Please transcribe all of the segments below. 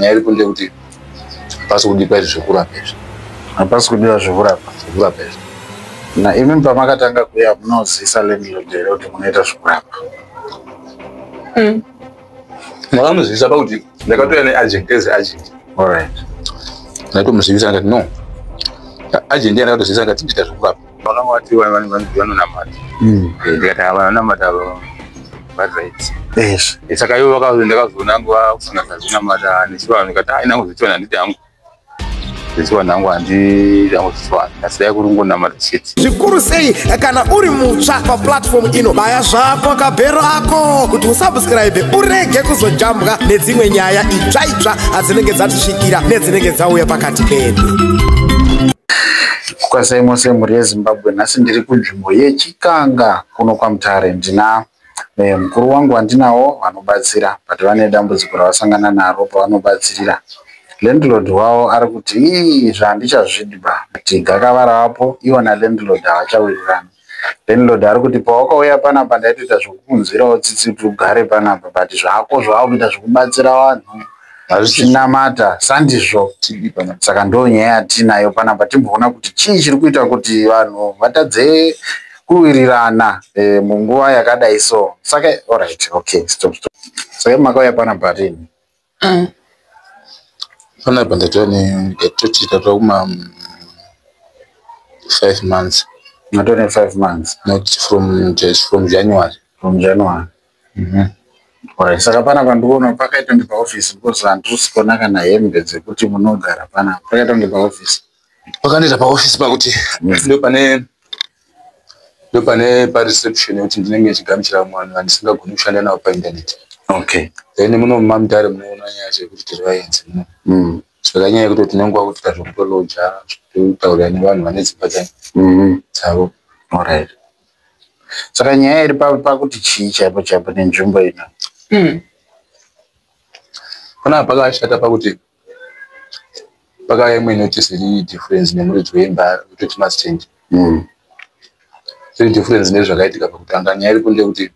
nyaya iri kunde kuti pasi kudikwa izvi zvekurapa izvi hapasi kudiwa zvekurapa zvekurapa izvi na imi pamakatanga kuya munozisa landlord here kuti munoita zvekurapa hmm. makamuzivisa pakuti ndakatouya neagent as agent allright ndaitomuzivisa ndikati no agent yandakatozivisa ndikati ndiita zvekurapa vakanga vati vanonamata mm. eh, ndikati ava vanonamata ava varight yes eh, saka ivo vakazondakazoona angu vakusanga sazvinamata nechivanhu ndikati aina kuzochiwana handiti hangu zvechivanhu hangu handiti hangu zvechivanhu asi dai kuri ngonamata chete zvikuru sei kana uri mutsva paplatform ino baya zvako kabhero ako kuti usubscribe urege kuzojambwa nedzimwe nyaya itsva itsva adzinenge dzatisvikira nedzinenge dzauya pakati pedu Kwasai mose mhuri yeZimbabwe, nhasi ndiri kunzvimbo yeChikanga kuno kwaMutare. Ndina eh, mukuru wangu wandinawo vanobatsira but vane dambudziko ravasangana naro pavanobatsirira. Landlord wavo ari kuti ii izvi handichazvidi ba but gakava ravapo ivo nalandlord havachawirirani. Landlord ari kuti pawakauya panapa ndaitoita zvekukunzwirawo tsitsi kuti ugare panapa but zvako zvawakuita zvekubatsira vanhu zvichinamata sandizvo saka ndo nyaya yatiinayo panapa timboona kuti chii chiri kuita kuti vanhu vatadze kuwirirana eh, munguva yakadai so saka orit okay stop stop saka makauya panapa rini mm. panapa ndatova ndatoti tatova kuma mm, five months matova nefive months not from just from january from january mm -hmm. Right. saka pana pandiona pakaita kunge paoffice because handisi kuona kana hembe dzekuti munogara pana pakaita kunge paoffice pakandiita paoffice pakuti mm. ndo pane ndopane pareception yekuti ndinenge ndichigamuchira mwana andisingagoni kushanda navo painternet okay then muno mamdare munoona nyaya yacho yekuti tiri vaenzi muno mm. saka nyaya yekuti tinenge wakutoita zvekutoloja zvekutaurira nevanhu vane dzimba mm. dzavo orit saka nyaya iri pakuti chii chaipo chaipo nenzvimbo ino mm. panapa pakashata pakuti pakauya imwe notice iri difference nemuridzi weimba kutoti must change mm. iri difference nezvakaitika pakutanga nyaya iri kunde kuti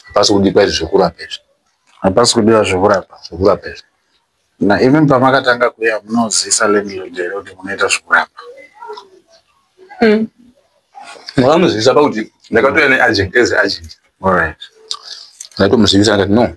hapasi kudikwa izvi zvekurapa izvi hapasi kudiwa zvekurapa zvekurapa izvi na even pamakatanga kuya munozisa landlord here kuti munoita zvekurapa hmm. makamuzivisa pakuti ndakatouya neagent as agent allright ndaitomuzivisa ndati no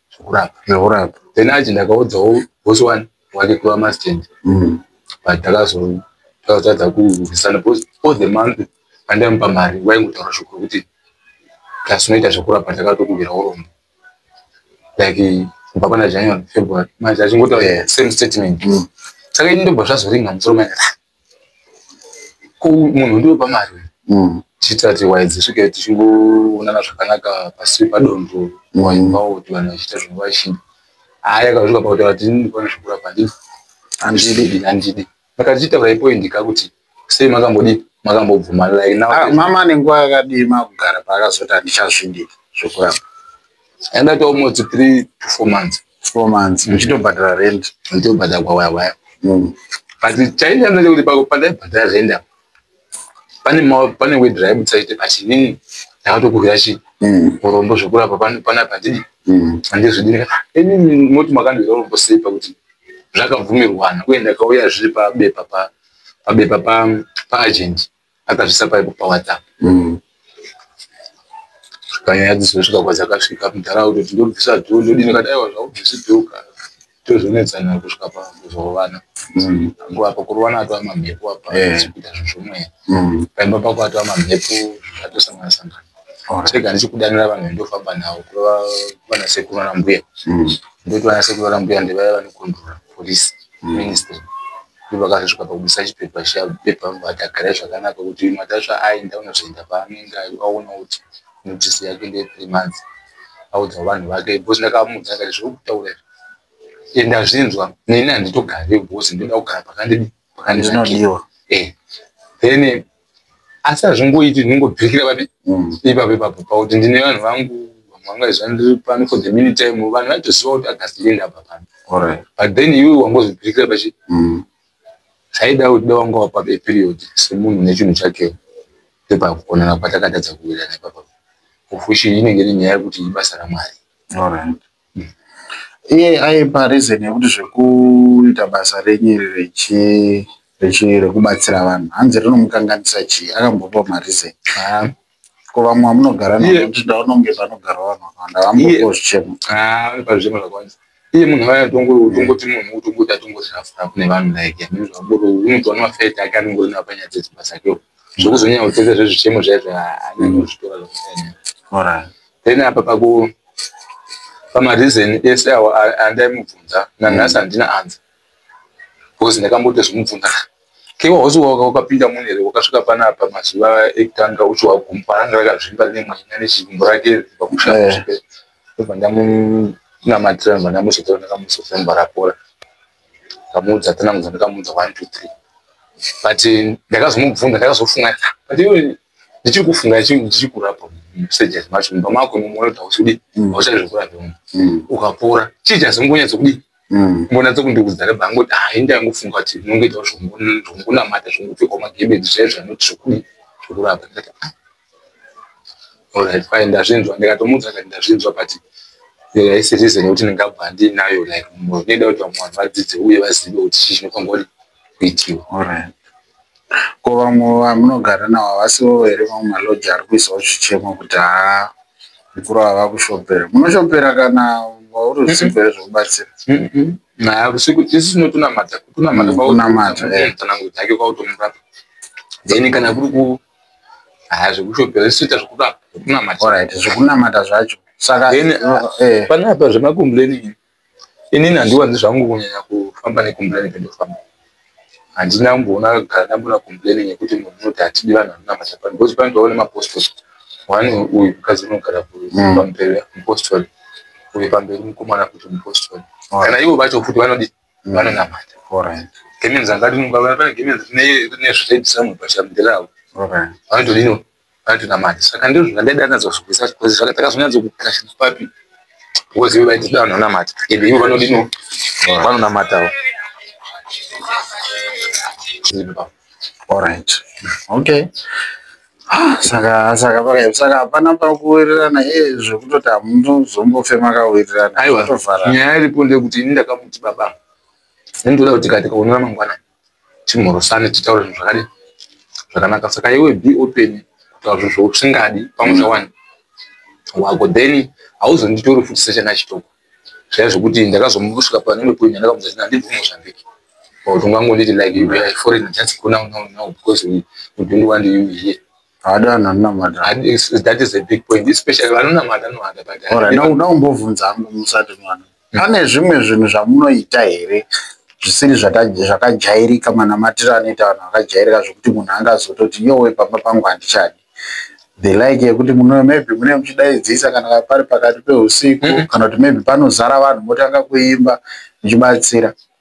zvekurapa zvekurapa then achi ndakaudzawo boss one wake kuva mastand mm. but ndakazotadza kurwisana because all the month andaimupa mari waingotaura shoko rekuti plus unoita zvekurapa ndakatokumbira urombo like kubva pana january february manje achingotaura same statement mm. saka ini ndobva zvazoringa musoro maaa ko munhu ndiopa mari mm. tichiitira kuti waya dzisvike tichingoonana zvakanaka pasi padonzo waimbawo mm. kuti vanhu vachiita zvinhu vachida haya kazvika pakuti vati ndikona zvekurapa ndini handidi handidi saka tichitaura ipoindika kuti sei makambodii makambobvuma like now ah, mama nenguva yakadii makugara paakazoti handichazvidii zvekurapa Enda to almost 3 to 4 months. 4 months. Mchito badala rent. Mchito badala kwa waya waya. Mm. But chainja mnaje kuti pako pandai badala rent hapo. Pane ma pane we drive tsaite but nini ndakatokuvira chi. Mm. Urombo zvekura pa pana pana pandidi. Mm. Ande zvidini. Eni moti makandira urombo sei pakuti zvakabvumirwana uye ndakauya zviri pa bepa pa pa bepa pa pa agent. Mm. akazvisa paipo pawhatsapp mm. panyaya dzizosvika kwadzakasvika mudhara kutoti ndobvisa dhoo ndodini kati aiwa zvaubvisi dhoo ka tozonetsana kusvika pakuzovana mm. nguva pakurovana atova mamhepo apa kuita zvinhu zvomweya mm. paimba pako atova mamhepo atosangana sangana saka ndichikudanira vanhu ndofamba navo kurova vana sekuru ana mbuya mm. ndoti vana sekuru ana mbuya ndivaya vanokondrora police ministry ndipo akazosvika pakubisa chipepa chiya pepa vati agare zvakanaka kuti matasva aenda unozoenda paanenge aona kuti notisi yake ndeye three months audza vanhu vake because ndakamuudza akati zviri kutaura izvi ende azvinzwa neni handitogare because ndoda kugara pakandinodiwa eh, then asi hazvingoiti ndingobirikira pane mm. ipapo ipapo pakuti ndine vanhu vangu vanga izva ndiri pano for the mini time vanhu vaitoziva kuti agasti ndienda apa pano but then iwe wangozobirikira pachi mm. saida kuti da wanga wapa eperiod semunhu nechinhu chake ndepakukonana kwatakatadza kuwirana ipapo of which inenge iri nyaya yekuti ibasa ramwari iye aipa reason yekuti zvekuita basa renyu iri rechi rechi rekubatsira vanhu hanzi rinomukanganisa chii akambopa mareason ah. ko vamwe vamunogara navo kuti ndaona kunge panogara vanhu vakawanda vambopawo zvichemo ah, pazvichemo zvakawandisa iye munhu ava atongo utongoti munhu utongoti atongozvirafura kune vanhu like amizvaboro unotoona mafet ake anongori navo panyaya dzedzimba dzakeo zvokuzonyanya kutsetsa zvezvichemo zvaizvo anyanozvitora zvakunyanya then apa paku pamareason ese awo andaimubvunza nanhasi handina anza because ndakamboto zvimubvunza kewa hosi waka wakapinda mune here wakasvika pana apa mazuva ekutanga uchiwa gumbo ananga rakazvimba rine mwana nechigumbo rake pakushaaobva eh. ndamunamatira ndobva ndamuzotora ndakamuzofa ndobva rapora ndamuudza tanamuza ndakamuudza one two three but ndakazomubvunza ndakazofunga but iwe ndichiri kufunga ndichikurapa musejas macho mumba mako mumwoyo kuti hausudi mm. hauchai zvekurapa mu mm. ukapora chii chazongonyatso kudi mm. mbona dzokundiudza reba angoti ha inde angofunga kuti unongoitawo zvokunamata zvongopfekwa magebedi zvaye zvanoti zvokudi zvekurapa ndikati ah. olright fine ndazvinzwa ndikatomuudza kati ndazvinzwa but yaisirize nekuti ndingabva ndinayo like mumwoyo ndinoda kuti vamwe vanhu vadzidze uye vazive kuti chii chinofanirwa kuti Biti alright. Ko vamwe vamunogara navo havasivo here mamwe maloji ari kuisawo chichemo kuti haa mukuru ava vakushopera. Munoshopera kana vauri usiku here zvekubatsira? Naya usiku isu tinotonamata kutonamata kwaunamata kana kuti hake kwautomurapa. Then kana kuri ku haya zvekushopera isu toita zvekurapa zvekunamata. Alright zvekunamata zvacho. Saka then eh, eh. panapa zvemakomplaini inini handiwanzi zvangu kunyanya kufamba nekompleni pendofamba handina kumboona kugara ndambona kompleni nekuti munhu unoti hatidi vanhu vanonamata pano because pane tova nemapostori one uyu mukadzi unogara mm. pamberi mupostori uyu pamberi mukomana kuti mupostori kana ivo vacho futi vanodi mm. vanonamata gemenzi angati pane gemenzi nezviredhisamwe pachamdhiravo vanotodino Patina mari saka ndizvo zvandaida anatsa kuzvibvisa because saka takazonyatso kukashina papi because ivo vaitida vanhu vanamata ende ivo vanodino vanonamatawo allright okay ah, saka saka pakaip saka hapana pakuwirirana e eh, zvekutoti hamunozombofe makawirirana aiwa nyaya iripo ndeyekuti ini ndakamuti baba ini ndoda kuti katika unora mangwanani timhorosane titaure zvinhu zvakadi zvakanaka saka iwe be open kutaura zvinhu zvausingadi pamusha mm. wani wako then hauzonditori futi sechana chitoko zvaya zvekuti ndakazomuvusvika panimwe point yandakamudza zina handibvi mozambique but ungangonditi like you are foreign just go now now now because we, we don't want you here haadana anonamata that is a big point especially vanonamata anohada but now umbovunza hangu musati mwana Pane zvimwe zvinhu zvamunoita here zvisiri zvakajairika manamatiro anoita vanhu vakajairika zvekuti munhu angazototi yowe pamba pangu handichadi the like yekuti muno maybe mune muchidaidzisa kana pari pakati peusiku mm -hmm. kana kuti maybe panozara vanhu motanga kuimba muchibatsira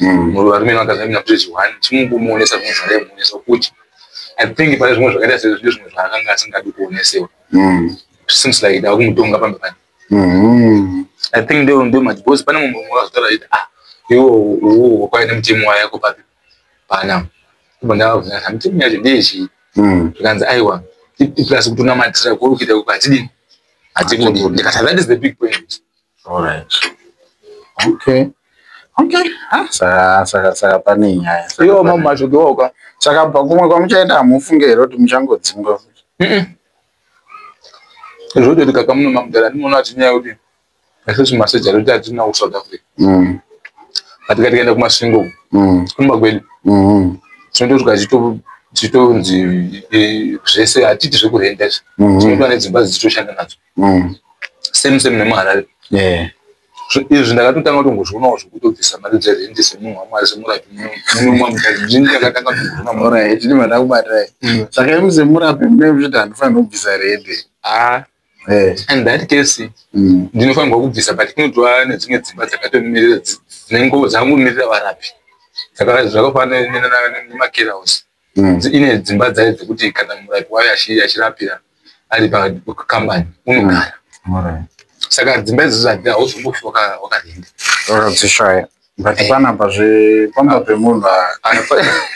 mm. varume vakazamina kuti zviwani chimungomuonesa zvimwe zvaraimuonesa kuti i think pane zvimwe zvakaita sezvine zvimwe zvaakanga asingadi kuonesewa mm. seems like dava kumutonga pambe pane mm-hmm. i think ndo ndo mati because pane mumwe mumwe akazotaura kuti ah iwo uwo wakwai nemutemo wayo yako papi pana kubva ndavavhunza mutemo yacho ndeyechii mm. zvikanzi aiwa plus kutonamatira kuokuita kuti hatidini hatikundi ndikati that is the big point Alright. Okay. Okay. Ah, saka saka saka pane nyaya. Iyo mama mazvodoka. Saka pakumwe kwamuchaenda hamufunge here kuti muchangodzingwa futi? Mhm. Zvoda kuti kaka muno mamudara ndinoona kuti nyaya kuti isusu masoja roti hatina ku South Africa. Mm. Kati kati kaenda kumasvingo. Mm. Kumba kwedu. Mhm. Tinotosvika chito chitonzi eh, zvese hatiti zvekurenda izvi. Mhm. Tinotova nedzimba dzititoshanda nadzo. mm. same same nemuharare yeah izvi ndakatotanga kutongozvionawo zvekutobvisa mari dzerendi semunhu wamwari semurapi munomwa mukati zvini ndakatanga kutongozvionaorit ini mandakubatai saka imi semurapi mune zviti handifanira kubvisa rendi ah, eh. and that case mm. ndinofanirwa kubvisa but kunotova nedzimwe dzimba dzakatomirira dzinengo dzangomirira varapi zvakafanana nemakerahouse mm. ine dzimba dzayo dzekuti kana murapi wayo achirapira ari pakambani unogara mm. saka dzimba idzodzo hadzina hauzokufi wakarinda wakadzishaya but eh. panapa zve pamba pemunhu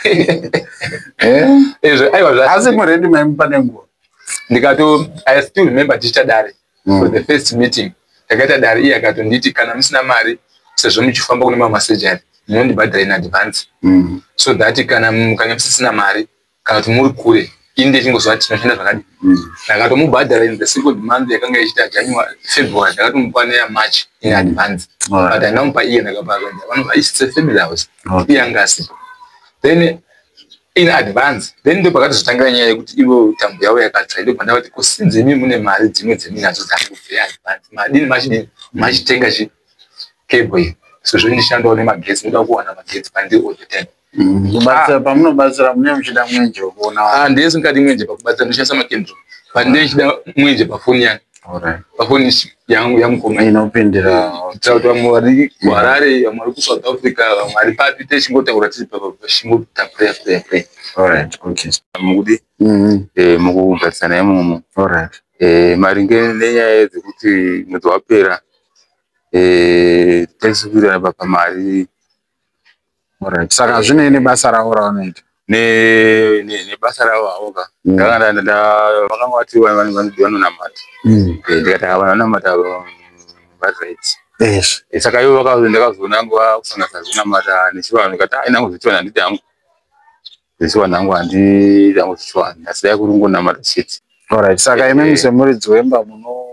eh? eh, aiwa asi murendi maimu pane nguva ndikato i still remember tichitadare mm. for the first meeting takaita dare iye akatonditi kana musina mari sezvo muchifamba kune mamwe masejari munondibhadhara in advance mm. so that kana mukanga musisina mari kana kuti muri kure ini ndechingozova tinoshanda zvakadi mm. ndakatomubhadhara in the second month yakanga ichiita january february ndakatomupa neya march in mm. advance but andamupa iye ndakapavanova isise family house iye anga asipo then in advance then ndipo pakatozotangira nyaya yekuti ivo tambo yavo yakatsva ndipo pandavati ko sinzi imi mune mari dzimwe dzeminadzo dzakubvira advance madini machidini machitenga chi cable iyi so zvondishandawo nemagetsi ndoda kuwana magetsi pandiri all the time mm, ah. pamunobatsira mune muchida mwenje wekuona ah, ndese ndikati mwenje pakubatsira ndoshandisa makendro pandee chida mwenje pafoni yangu pakonisi yangu yamukoma ina upendera kuitira kuti vamwe vari kuharare vamwe vari kusouth africa vamwe vari papi techingotaura tiri pachingota prayer prayer prayer alright okay mukudi mm-hmm. eh, mukugarisana imomo alright eh, maringe nenyaya dzekuti mwedzi wapera eh, taisikuirana baba mari Alright. Saka zvine nebasa ravo ravanoita. Ne ne nebasa ravo havo ka. Mm. Ndakanda nda vakanga vati vanhu vanodiwa nonamata. Mm. Eh, ndikati hava vanamata vazvaiti. Yes. Eh, saka ivo vakazo ndakazoona nguva kusanganisa zvinamata nechivanhu ndikati ah inangu zvichivanhu handiti hangu. This one hangu handi hangu chichwani asi dai kuri kungonamata chete. Alright, saka eh, imimi eh. semuridzi wemba muno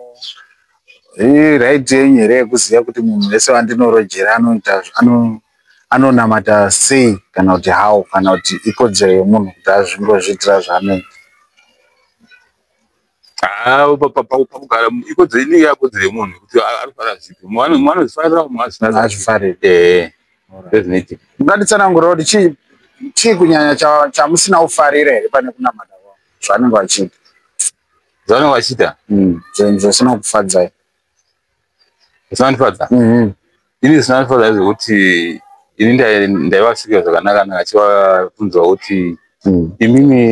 iraiti yenyu here yekuziva kuti munhu wese wandinorojera anoita ano anonamata sei kana kuti how kana kuti ikodzero yemunhu kuti azvingozviitira zvaanoita Ah, pakugara ikodzero inenge yakodzero yemunhu kuti arikugara zvipi mumwe anozvifarira mumwe azvifariri eh, ndozvinoitika ungatitsanangurira kuti chii chii kunyanya chamusina kufarira here pane kunamata zvaanenge vachiita zvaanenge vachiita hmm, zvinhu zvisina kufadzai zvinondifadza mm-hmm. ini zvinondifadza zvekuti ini ndaivasvika zvakanaka naka chivabvunzwa kuti mm. imimi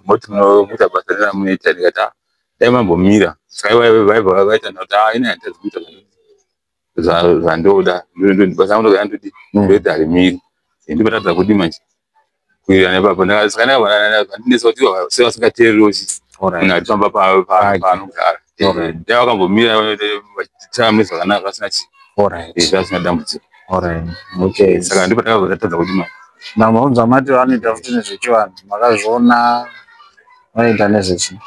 moti munoita basa reramunoita ndikati ah, dai mambomira saka vaibva vaita noti ah, ini handitazi kuita zvandoda basa ndodai ndodi ndoita mm. harimiri ndibatadza kudi manje kuwirirana ipapo ndakazikanaandinetsa kuti sei vasingateereri kuti munhu atofamba paanogara dai vakambomira vachitama mune zvakanaka vasina chii izvi vasina dambudziko saka ndipo takazotatadza kuti ma mamaunza mati vanoita futi nezvechivanhu makazviona vanoita nezvechi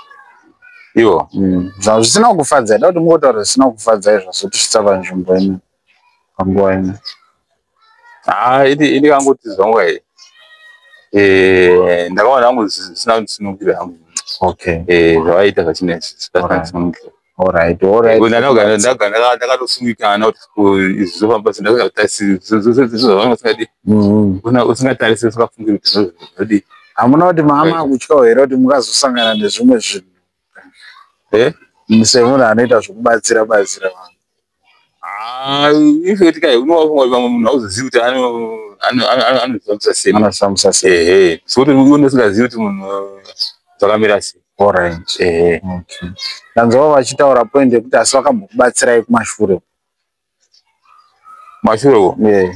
ivo mm. zva zvisina kukufadza ida kuti mungotaura zvisina kukufadza izvo zvotisvitsa panzvimbo ino panguva ino haa ini ini kangoti zvonga e eh, ndakaona hangu zvisina kundisumukira hangu okay eh, zvavaiita zvachinesi zvisina kundisumukira ndakatosungikana kuti zvofamba sendazvavasingadi usingatarise usingafungi kuti zvodii hamuna kuti mama akutyawo here kuti mukazosangana nezvimwe zvinhu eh? semunhu anoita zvokubatsira batsira vanhu Ah, ifeti kai unowafunga kuti vamwe munhu auzozivi kuti anozvifambisa sei anozvifambisa sei ehe sokuti une usingazivi kuti munhu zvakamira sei orange ehe okay ndanzwa vachitaura point yekuti asi vakambokubatsirai kumashure kumashure ko yeah.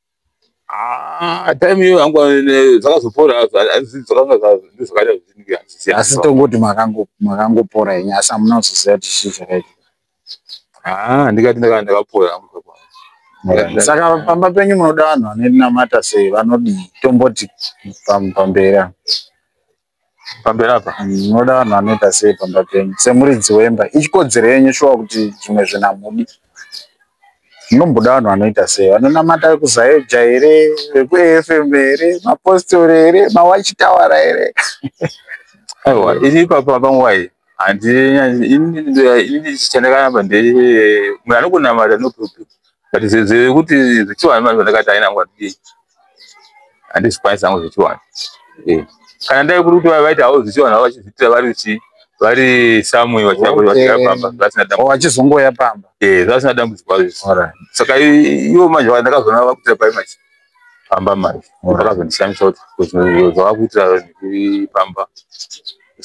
Ah, time iyo yangu eh, zvakazopora asi tongoti makangopora yenyu asi hamuna kuzoziva kuti chii chakaita ah, ndikati ndakanga ndakapora saka pamba penyu munoda vanhu vanoinamata sei vanodii tomboti pamberi pamberi apa ndinoda vanhu vanoita sei pamba penyu semuridzi wemba ichikodzero yenyu shuwa kuti zvimwe zvinamudi munomboda vanhu vanoita sei vanonamata vekuzaeja here vekuafm here mapostori here mawachitawara here aiwa iri ipapa panguva iyi handinini chandakanamba nde munhu anokunamata no problem but zvekuti zvechivanhu vanhu zvandakati haina nguva dii handizvikwanisa hangu zvechivanhu eh. kana ndai kuri kuti vaita havo zvechivanhu havo vachizviitira vari chii vari samwe vachizongoya pamba zvasina dambudziko saka ivo manje ndakazoona vakutira pai manje pamba manje munhu akazondishamisa kuti zvinhu zvavakuitira pamba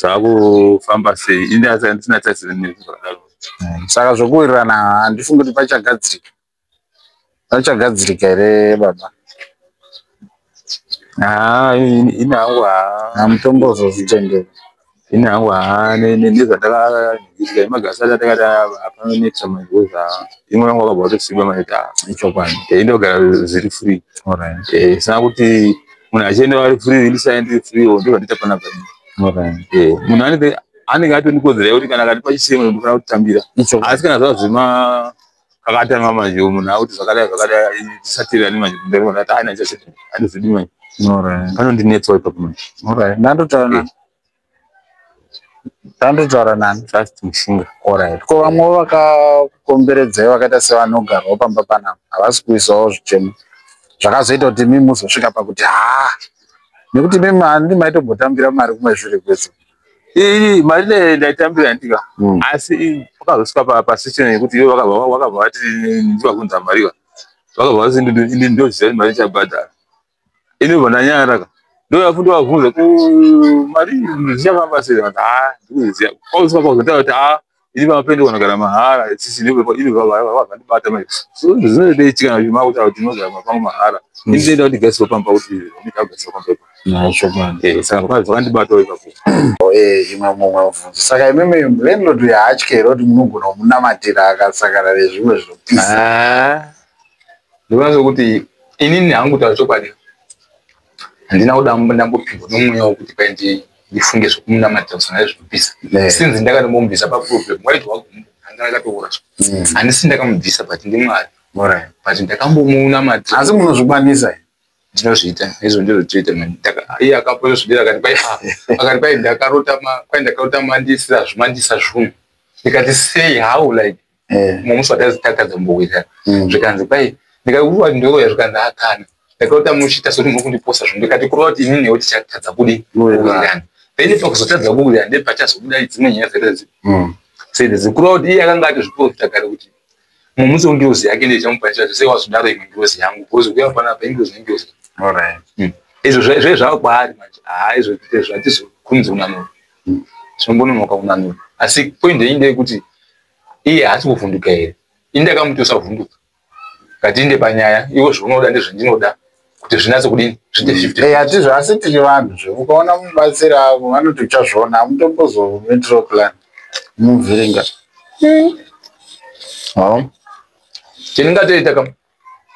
zvakufamba sei ini asi andisina taisiri nezvakadaro mm, saka zvokuwirirana handifungi kuti pachagadzirika pachagadzirika here baba haa ini hangu haa mutombo zvozvitendera ini hangu haa nezvandakaizwa imagasi ati atakati hapana nexa magozi haa imwe yangu akabva atosimba maita ichokwadi e ndogara zviri free e sina kuti munhu achienda vari free ini sae ndiri free o ndozvandiita panapa e munhu anenge anenge atoni kodzera yekuti kana kati pachisimo ndofana kutambira asi kana zvazvima kakatanga manje munhu akuti zvakadai zvakadai tisatiri ani manje kumberi manje ati aina chachete andizvidi manje panondinetsawo ipapo manje ndandotaura nani ndandotaura nani just mushinga orit ko vamwe vakakomberedzai vakaita sevanogarwa pamba panapa havasi kuisawo zvichemo zvakazoita kuti mimi muzosvika pakuti haa nekuti mimi handi maitombotambira mari kumwe zviri kwese iyi mari ndaitambira ndika hmm. asi pakazosvika pasituation yekuti iwe wakabva vati ndivakunza mariva vakabva vati ini ndoziva mari ichabhadhara ini ubva ndanyaraka ndoyafundi wavhunza ku mari zvichafamba sei vanhu ha ndikuziva kwakuzosvika pakuzontaa kuti ha ini vamapende vanogara mahara sisi ndivavandibata zvinoitaitika zvimauta kuti unogara mapangu mahara ini ndoenda kuti gasiwa pamba kuti ndikagasiwa pamba ipo Eh, saka vakadzi vakandibatawo ipapo Eh, imwe mumwe mubvunzo saka imimi landlord uyo haatye here kuti munogona kumunamatira akasangana nezvimwe zvinopisa Ah, ndinoona sokuti inini hangu kutaura chokwadi handina kuda ndambopindwa nomweya wokuti paindii ndifunge zvekumunamatira kusana nezvekubvisa eh. since ndakatomubvisa paproblem waiti anga akatoora mm. handisi ndakamubvisa but ndimwari but ndakambomunamatira asi munozvikwanisa ndinozviita izvo ndizvo toita iye akapozosvidira akati kwai ah, akati kwai ndakarota kwai ndakarota mandisira zvuma ndisa zvunhu ndikati sei how like eh. mumwe musi watazitatadza mbokuita mm. zvikanzi kwai ndikakuva ndoroya zvikanzi akana ndakaota muchita soti muri kundiposa zvinhu ndikati kureva kuti ini newe tichatadza kudi kuwirirana then pakuzotadza kuwirirana ndepachazobuda dzimwe nyaya zerezi mm. sedzi kureva kuti iye akanga ati zviprofita kare kuti mumusi wengirozi yake ndichamupanisira zvese wazodaro imwe ngirozi yangu bcause kuya panapa ingirozi nengirozi mm. izvo zve zvava kwaari manje haa izvo zvatizokunzi unanura mm. zvinongononoka unanura asi point yei ndeyekuti iye haasi kuvhunduka here ini ndakamuti usavhunduka ngatinde panyaya iwo zvaunoda ndezvandinoda kuti zvinatse kudini zvideatizvo eh, asi tiri vanhu zve ukaona mubatsiri avo vanoti uchazviona amutombozomitiro plan muvhiringa hmm. chendingatoita kam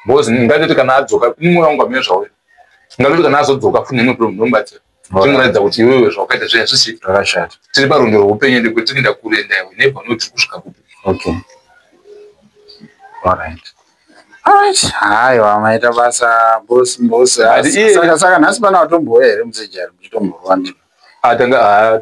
because ngatoti kana adzoka ini mwoyo wangu amene zvauya ngatoti kana azodzoka fune imwe problem ndomubatsira zvinoratidza kuti iwewe zvawakaita zviya zvisi zvakashata tiri parwendo rweupenyu ende kuti tinoenda kure enda iwe never know tiri kusvika kupi okay alright haiwa maita basa bosi bosi saka nhasi pana watomboya here musejari muchitomborwa ndi atanga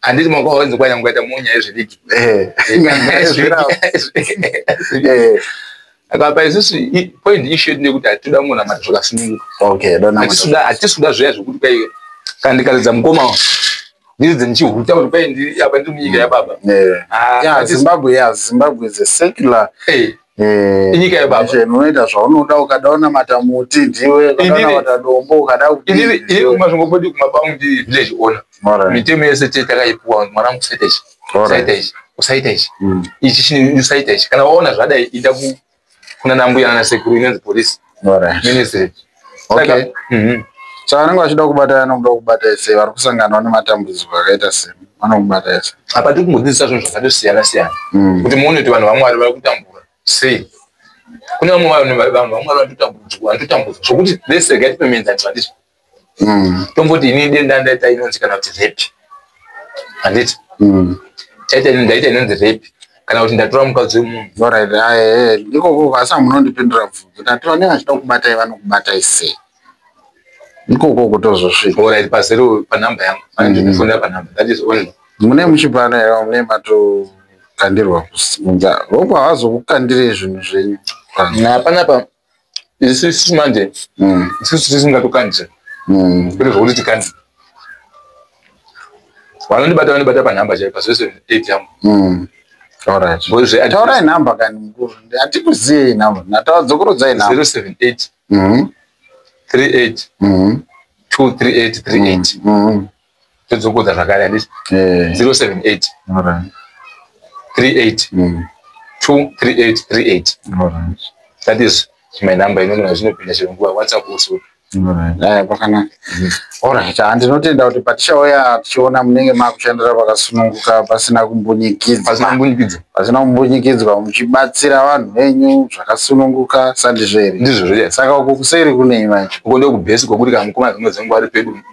handiti mwaka waunzi kwanya mukaita munyaya yezvidiki akapa isusu point issue yedu ndeyekuti hatitoda munhu amati zvakasununguka hatisi kuda zviya zvekuti kwai kana ndikaridza mukoma ndiridze ndichihuta kuti kwai apa ndiri munyika yababa zimbabwe ya zimbabwe is a secular Eh, inyika yebaba Nation, unoita zvaunoda ukada unamata muti ndiwe ukada Inini- unamata dombo ukada inini kudii, inini ndiwe. kumba zvingopoti kumba kwangu ndi village owner Alright. mitemo yese tete takaipuwa mwana wangu usaita ichi Alright. usaita ichi usaita ichi Mm. ichi chini usaita ichi kana waona zvadai ida ku kuna nambuya nana sekuru inonzi polisi Alright. Ministry. Okay. Saka, mhm. Chavanenge vachida kubata vanokuda kubata ese vari kusanganawo nematambudziko akaita sei vanokubata ese. Apa tiri kungodzidzisa zvinhu zvakatosiyana siyana Mm. kuti muone kuti vanhu vaMwari vari kutambura sei. Kune vamwe vanhu vanhu vaMwari vanototambudzwa vanototambudzwa zvokuti let's regard payments and tradition. mm. tomboti ini denda ndaita inonzi kana kuti repi handiti mm. taita ini ndaita inonzi repi kana kuti ndatora mukadzi wemunhu orit ah, eh, eh, ndikoko vasa munondipindura bvunzo ndati vanenge vachida kubatai vanokubatai sei ndikoko kutozosvika orit pazero panumbe yangu andifunira mm. panumbe that is only mune muchipano here mune mato kukandirwa kusikunza voko havazokukandirei zvinhu zvenyu hapana pa isusu manje mm. isusu tisingatokwanise mm. kuti zvokuti tikani vanondibata vanibata panhamba chaipa zvese eight yangu mm. taurai nhamba kani mukuru hatikuziei nhamba natadzokoredzai nhamba zero seven eight three eight two three eight three eight todzokodza zvakare handiti 078 38 23838 that is my number inonona zvinopinda chero nguva whatsapp also eh, pakanaka orit ah, ndinotenda kuti patichauya tichiona munenge makushandira pakasununguka pasina kumbunyikidzapasina kumbunyikidzwa muchibatsira vanhu venyu zvakasununguka sandizvo here ndizvo saka uko kuseri kunei manje uko ndokubhesi kwokuri kamukomana dzimwe dzenguva ari pedu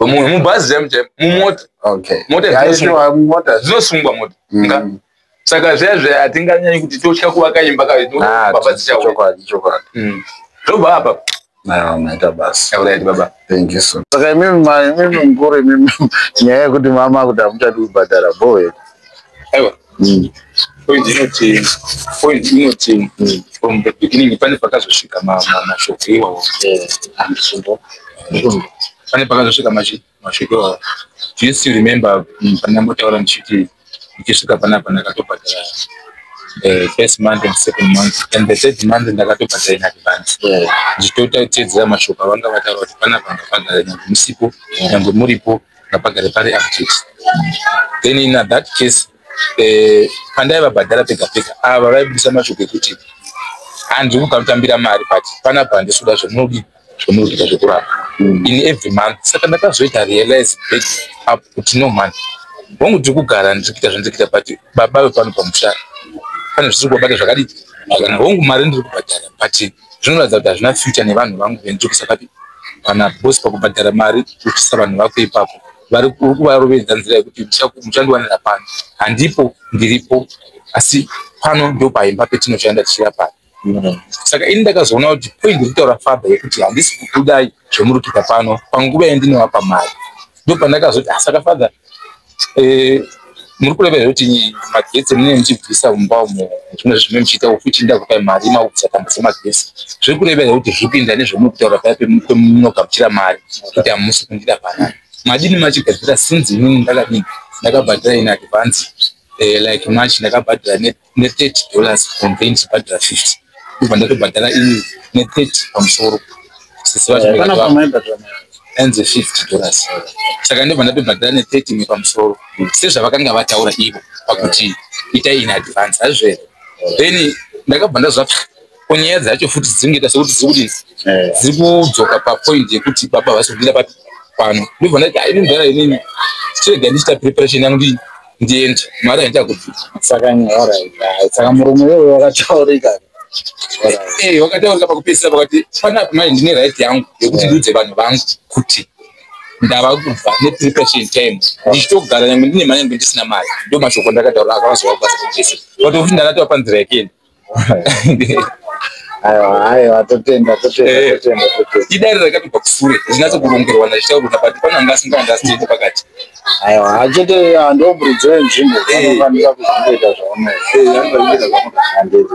Mu- mubhazi chaimo chaimo mumota Okay. Mota Yeah, dzinosungwa. sure, mota. dzinosungwa mota Mm. Nga? saka zviya zviya hatinganyanyi kuti totya kuvaka imba Ah, kavababa dzichauya chokwadi, chokwadi. zvobva apa Aiwa, maita basi. yakuraiti baba Thank you so much. Saka imimi ma- imimi mukuru imimi nyaya yekuti mama kuti hamuchadi kubhadhara bho here? aiwa mm. point inoti point inoti mm. from the beginning pane pakazosvika mashoko iwawo andisvo pane pakazosvika mashoko iwawo do you still remember mm, pandambotaura ndichiti ndichisvika panapa ndakatobhadhara eh, first month and second month and the third month ndakatobhadhara in advance ndichitotateedzera mashoko avanga vataura kuti panapa ndabhadhara nyange musipo nyange muripo ngapagare pari update then in that case eh, pandaivabhadhara pega pega ava vaibudisa mashoko ekuti handiri kuda kutambira mari but panapa handisi kuda zvamunodii zvamunoita zvekurapa mm. in every month saka ndakazoita realize back up kuti no money hongu tiri kugara ndiri kuita zvandiri kuita but baba vepano pamusha pane zvisiri kubabata zvakadii kana hongu mari ndiri kubhadhara but zvinoratidza kuti hazvina future nevanhu vangu venjokisa kati kana bosi pakubhadhara mari uchisa vanhu vako ipapo vari kuvarovedza nzira yekuti muchandiwanira pano handipo ndiripo asi pano ndopaimba petinoshanda tichirapana saka ini ndakazoona kuti point rikutaura faba yekuti handisi kukudai zvemurikuita pano panguva yandinowapa mari ndopandakazoti ah, saka father eh, muri kureva here kuti magesi mune muchibvisa mumba umo zvimwe zvimwe muchiita futi ndakupai mari maubvisa tambo dzemagesi zviri kureva here kuti zvipinda nezvamuri kutaura paya pemunogamuchira mari kuti hamusi kundida panani madini machigadzira sinzi inini ndakadini ndakabhadhira in advance eh, like much ndakabhadhira net ne 30 dollars complain chibhadhara 50 ndobva ndatobhadhara ini ne 30 pamusoro sisi vacho anzi 50 dollars saka ndobva ndatobhadhara ne 30 imwe pamusoro sezvavakanga vataura ivo pakuti ita in advance hazvere then ndakabva ndazvapsa Ko nyaya dzacho futi dzingaita sekuti dziri kudini? Eh. Dziri kudzoka papoint yekuti baba havasi kudira papi pano. Ndobva ndati ah, ini mudhara inini chirega ndichita preparation yangu ndii ndiende mari haita kuti saka nyora saka murume iwoyo wakataurika eh wakataurika pakupedzisira pakati panapa manje ndine right yangu yekuti ndiudze vanhu vangu kuti ndava kubva nepreparation time ndichitogara nyangwe ndine mari yangu ndisina mari ndo mashoko ndakataura akavazovakubasakuchese but kuti ndakatova panzira yekeni aiwa aiwa totenda totenda Eh. totenda totenda idare rakatobva kusure zvinatso kurongerwa ndazvitaurwa napati pana anga asingaandastandi pakati aiwa achete ah, ndomburidzo yenzvimbo Eh. vanofanira kuzvingoita zvaunoita Eh, anofanira kuita zvaunoita. handiti